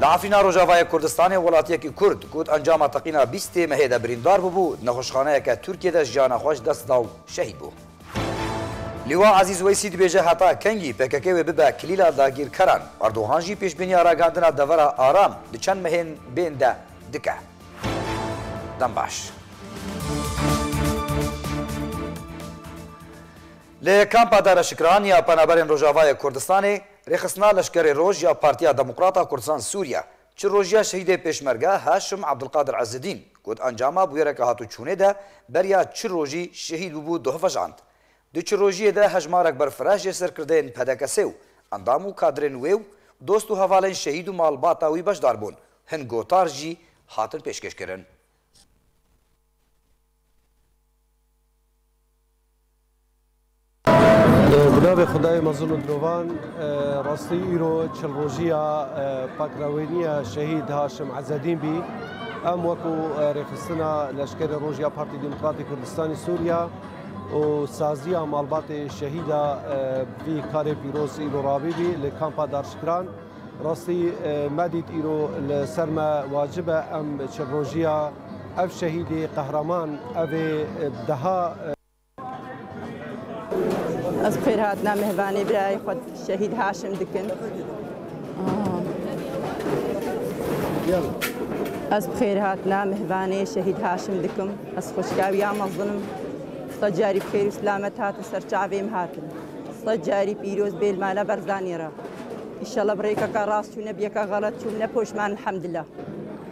Li Efrîna Rojavayê Kurdistanê welatiyekî Kurd ku di encama teqîna bîst ê mehê de birîndar bûbû, di nexweşxaneyeke Tirkiyê de jiyana xwe ji dest da û şehîd bû. Lîwa Ezîz Weysî dibêje heta kengî pkk wê bibe kilîla dagîrkeran. Erdogan jî pêşbîniya ragihandina devera aram di çend mehên bên de dike. Dem baş. Li kampa Dara Şikran ya Penaberên Rojavayê Kurdistanê, Rêxistina Leşkerê Roj ya Partiya Demokrat a Kurdistan Sûriye, çi rojiya şehîdê Pêşmerge Haşim Abdulkadir Ezzedîn ku di encama bûyereke hatûçûnê de beriya çi rojî şehîd bûbû dihevejand. Di çi rojiyê de hejmarek berfireh jê serkirdeyên PDKS'ê û endam û kadrên wê û dost û hevalên şehîd û malbata wî beşdar bûn, hin gotar jî hatin pêşkêşkirin. Bi navê Xwedayê mezin û mirovan rastî îro çil rojiya pakrewêniya şehîd Haşim Ezedîn bî. Em wekû rêxistina leşkerê roj ya Partî Demokratî Kurdistanî Sûriya û saziya malbatê şehîda vî karê pîroz îro ravî bî li kampa Darşikran. Rastî me dît îro li ser me wacib e em çil rojiya Ev şehîdê qehraman ev ê deha. Ez bi xêr hatina mihvanê birayê xwe şehîd Haşim dikin. Ez bi xêr hatina mihvanê şehîd Haşim dikim. Ez xuşka wî ya mezinim. Sed carî bi xêr û silamet hatin ser çavêm hatin. Sed carî pîroz bê li mala Berzanî re. Îşallah bi rêkeka rast çûm ne bi yeka xelet çûm ne poşman elhamdillah.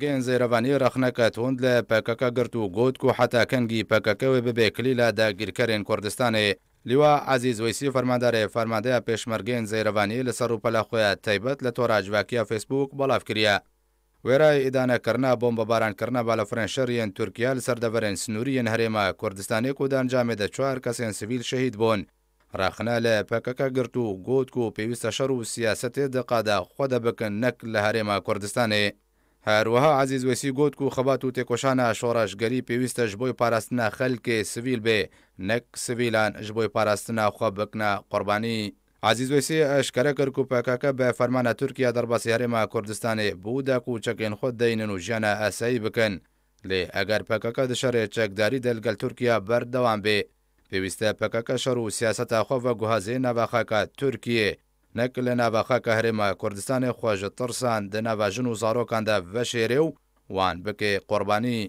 Gen Zêrevanî rexneke tund li pkk girt û got ku heta kengî pkk wê bibe kilîla dagîrkerên Kurdistanê. Lîwa Ezîz Weysî Fermandarê Fermandeya Pêşmergeyên Zêrevanî li ser rûpela xwe ya taybet li tora civakî ya Facebook belav kiriye. Wêreyê îdanekirina bombebarankirina balafirên şer yên Tirkiye li ser deverên sinûrî yên herêma Kurdistanê ku di encamê de çar kesên sivîl şehîd bûn, Rexne li pkk girt û got ku pêwîste şer û siyasetê di qada xwe de bikin nek li Herêma Kurdistanê. Her wiha Ezîz Weysî got ku xebat û têkoşana şoreşgerî pêwîste ji bo parastina xelkê sivîl bê nek sivîlan ji bo parastina xwe bikine qurbanî. Ezîz Weysî eşkere kir ku pkk bi fermana Tirkiye derbasî Herêma Kurdistanê bû de ku çekên xwe deynin û jiyana esayî bikin. Lê eger pkk di şerê çekdarî de li gel Tirkiye berdewam bê, Pêwîst e pkk şer û siyaseta xwe veguhazê nava xaka Tirkiyê, nek li nava xaka Herêma Kurdistanê xwe ji tirsan di nava jin û zarokan de veşêrê û wan bike qurbanî.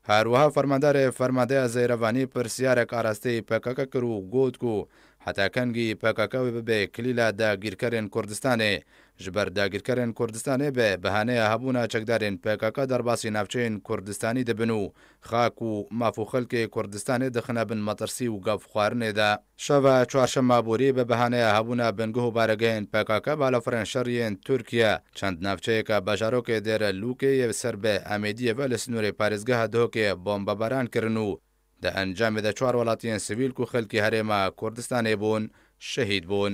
Her wiha Fermandarê Fermandeya Zeyrevanî pirsiyarek arasteyî pkk kir û got ku heta kengî pkk wê bibe kilîla dagîrkerên Kurdistanê, ji ber dagîrkerên Kurdistanê be bihaneya hebûna çekdarên pkk derbasî navçeyên Kurdistanî dibin û Xak û maf û xelkê Kurdistanê dixine bin metirsî û gavxwarinê de. Şeva çarşema borî bi behaneya hebûna bingeh û baregehên pkk balafirên şerî yên Tirkiye çend navçeyeke bajarokê Dêre Lûkê yê ser bi Emêdiyê ve li sinûrê parêzgeha Dihokê bombebaran kirin û di encamê de çar welatiyên sivîl ku xelkî herêma Kurdistanê bûn şehîd bûn.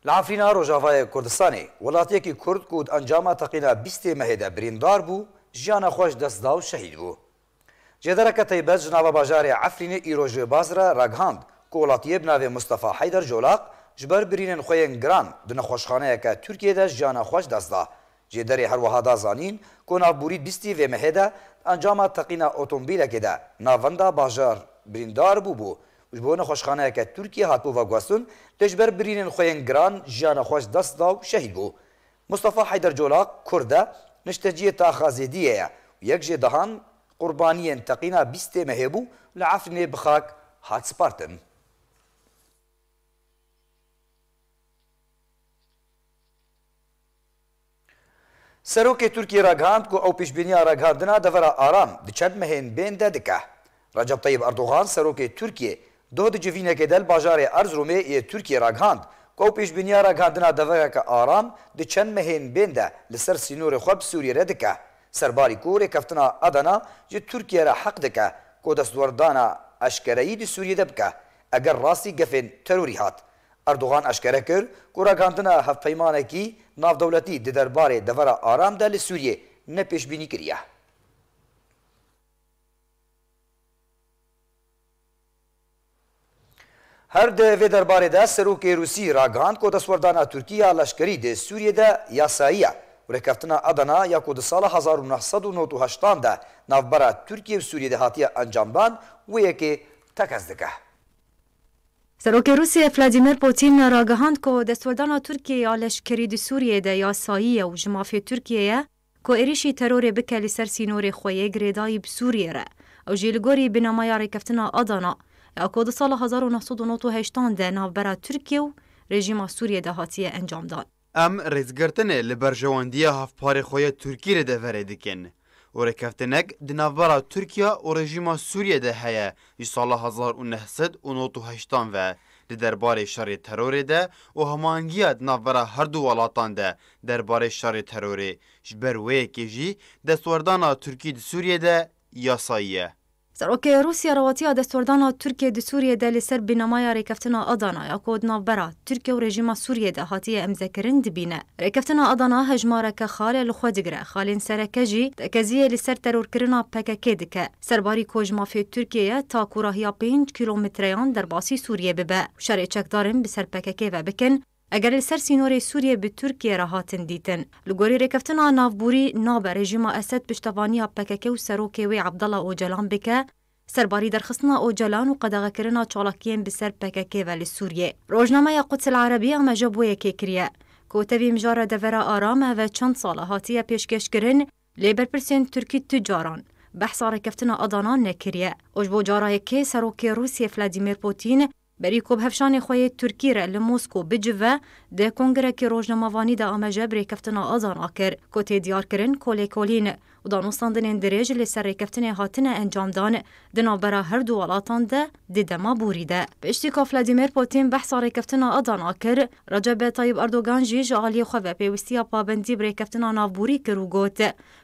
Li Efrîna Rojavayê Kurdistanê welatyekî Kurd ku di encama teqîna bîstê mehê de birîndar bû, jiyana xwe ji dest da û şehîd bû. Cêdereke taybet ji nava bajarê Efrînê îro ji Bazra ragihand ku welatiyê bi navê Mustafa Heyder Colaq ji ber birînên xwe yên giran di nexweşxaneyeke Tirkiyeyê de jiyana xwe ji dest da. Cêderê her wiha da zanîn ku navbûrî bîstî vê mehê de di encama teqîna otomobîlekê de navenda bajar birîndar bûbû û ji bo nexweşxaneyeke Tirkiyê hatibû veguhestin lê ji ber birînên xwe yên giran jiyana xwe ji dest da û şehîd bû. Mustafa Heyder Colak kurd e, nişteciyê Taxa Zêdiyê ye û yek jê dehan qurbaniyên teqîna bîstê mehê bû li Efrînê bi xak hat spartin. Serokê Tirkiyê ragihand ku ew pêşbîniya ragihandina devera aram di çend mehên bên de dike. Recep Tayyîp Erdogan Serokê Tirkiyê doh di civînekê de li bajarê Erziromê yê Tirkiyê ragihand ku ew pêşbîniya ragihandina devereke aram di çend mehên bên de li ser sînorê xwe bi Sûriyê re dike ser barî ku rêkeftina Adana ji Tirkiye re heq dike ku destwerdana eşkereyî di Sûriyê de bike eger rastî gefên terorî hat Erdogan eşkere kir ku ragihandina hevpeymanekî navdewletî di derbarê devera aram de li Sûriyê ne pêşbînîkirî ye. Her di vê derbarê de serokê Rûsî ragihand ku destwerdana Tirkî ya leşkerî di Sûriyê de yasayî ye û rêkeftina Adana ya ku di sala hezar û neh sed û nod û heştan de navbera Tirkiyê û Sûriyê de hatiye encamdan wê yekê tekez dike. Serokê Rûsyê Vladîmîr Pûtîn ragihand ku destwerdana Tirkiyeyê ya leşkerî di Sûriyeyê de yasayî ye û ji mafê Tirkiyeyê ye ku êrîşî terorê bike li ser sînorê xwe yê girêdayî bi Sûriyeyê re. Ew jî li gorî binamaya Rêkeftina Adana ya ku di sala hezar û neh sed û nod û heştan de navbera Tirkiye û rejîma Sûriyê de hatiye encamdan. Em rêzgirtinê li berjewandiya hevparê xwe ya Tirkiyê li deverê dikin û rêkeftinek di navbera Tirkiya û rejîma Sûriyê de heye ji sala hezar û neh sed û nod û heştan ve di derbarê şerê terorê de û hemahengiya di navbera her du welatan de derbarê şerê terorê ji ber wê yekê jî destwerdana Tirkiyê di Sûriyê de yasayî ye. Serokê Rûsya rewatiya destwerdana Tirkiyê di Sûriyê de li ser bînamaya Rêkeftina Adana ya ku di navbera Tirkiye û rejîma Sûriyê de hatiye emzekirin dibîne. Rêkeftina Adana hejmareke xalê li xwe digire, xalên sereke jî tekeziyê li ser terorkirina PKK'ê dike. Serbarî ku ji mafê Tirkiyê ye ta ku rahiya pênc kîlometreyan derbasî Sûriyê bibe û şerê çekdarin bi ser PKK'ê ve bikin, Eger li ser sînorê Sûriyê bi Tirkiyê re hatin dîtin, li gorî Rêkeftina Navborî nabe rejîma Esed piştevaniya pkk û serokê wê Abdallah Ocalan bike, serbarî derxistina Ocalan û qedexekirina çalakiyên bi ser pkk ve li Sûriyê. Rojnameya Quds El Arabi ameja bo yekê kiriye. Kote vî mijara devera aram eve çend sal e hatiye pêşkeşkirin, lê berpirsên Tirkî tu caran behsa rêkeftina Adana nekiriye û ji bo cara yekê serokê Rûsiyê Vladîmîr Pûtîn Berî ku bi hevşanê xwe yê Tirkî re li Mosko bicive, di kongirekî rojnamevanî de ameje bi rêkeftina Azan a kir ku tê diyarkirin ku lêkolîn û danûstandinên dirêj li ser rêkeftinê hatine encamdan di navbera her du welatan de di dema borî de. Piştî ku Vladimir Pûtîn behsa rêkeftina Azan a kir, Recep Tayyîp Erdogan jî ji aliyê xwe ve pêwistiya pabendî bi rêkeftina navborî kir û got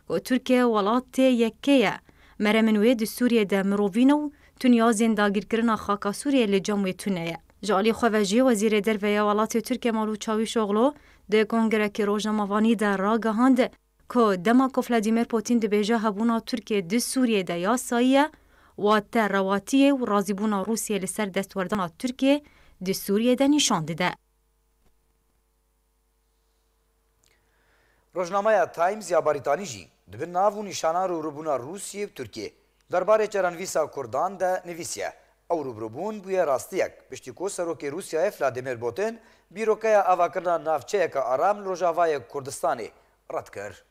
ku Tirkiye welat tê yek kê ye. Meremên wê di Sûriyê de mirovîn û Tun ya zên dagîrkirina xaka Sûriyeyê li cem wê tune ye. Ji aliyê xwe ve jî Wezîrê Derve ya welatê Tirkiye Malût Çawîşoglû di kongrekî rojnamevanî de ragihand ku dema ku Vladîmîr Pûtîn dibêje hebûna Tirkiyê di Sûriyeyê de yasayî ye, watte rewatiyê û razîbûna Rûsiyeyê li ser destwerdana Tirkiyeyê di Sûriyeyê de nîşan dide. Rojnameya Times ya Barîtanî jî di bin nav û nîşana rûrûbûna Rûsiyê û Tirkiyê der barê çarenvîsa Kurdan de nivîsiye, Ew rûbirûbûn bûye rastiyek piştî ku Serokê Rûsiyayê Vladimir Putin bîrokeya avakirina navçeyeke aram li rojavayê Kurdistanê red kir.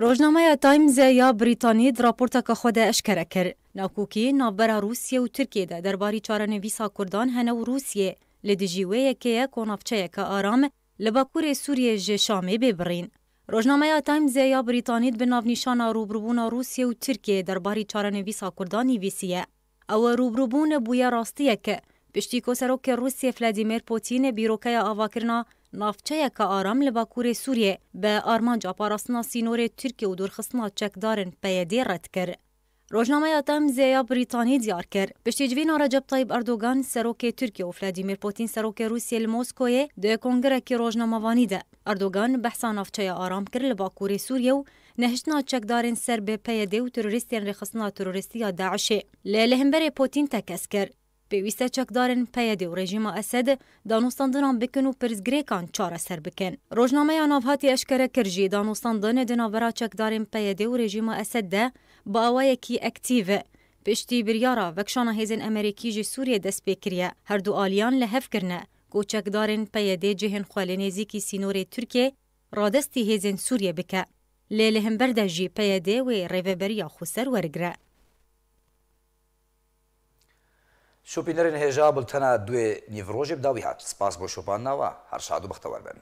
Rojnameya Timesê ya Brîtanî di raporteke xwe de eşkere kir, Nakokî navbera Rûsiyê û Tirkiyê de derbarî çarenivîsa Kurdan hene û Rûsiyê li dijî wê yekê ye ku navçeyeke aram li bakurê Sûriyê ji Şamê bê birîn. Rojnameya Timesê ya Brîtanî di bin navnîşana rûbirûbûna Rûsiyê û Tirkiyê derbarî çarenivîsa Kurdan nivîsiye, Ew rûbrûbûn bûye rastiyek. Piştî ku Serokê Rûsyê Vladîmîr Pûtîn bîrokeya avakirina Navçeyeke Aram li Bakurê Sûriyê bi armanca parastina sînorê Tirkiye û dûrxistina çekdarên PYD red kir. Rojnameya Times ya Brîtanî diyar kir, piştî civîna Recep Tayyîp Erdogan Serokê Tirkiye û Vladîmîr Pûtîn Serokê Rûsyê li Moskoyê di kongrekî rojnamevanî de Erdogan behsa Navçeya Aram kir li Bakurê Sûriyê û Nehiştina çekdarên ser bi PYD û terorîstên rêxistina terorîstî ya DAIŞ'ê li li hemberê Putîn tekez kir. Pêwîst e çekdarên PYD û rejîma Esed danûstandinan bikin û pirsgirêkan çareser bikin. Rojnameya Navhatê eşkere kir jî danûstandin di navbera çekdarên PYD û rejîma Esed de bi awayekî ektîv e. Piştî biryara vekşana hêzên Emerîkî ji Sûriyê dest pê kiriye, herdu aliyan li hev kirine ku çekdarên PYD cihên xwe li nêzîkî sînorê Tirkiyê, radestî hêzên Sûriyê bike, lê li hember de jî PYD wê rêveberiya xwe ser werigre. Şopînerên hêja bultena duê nîvrojê bi dawî hat. Spas bo şopandina we. Her şad û bextewer bin.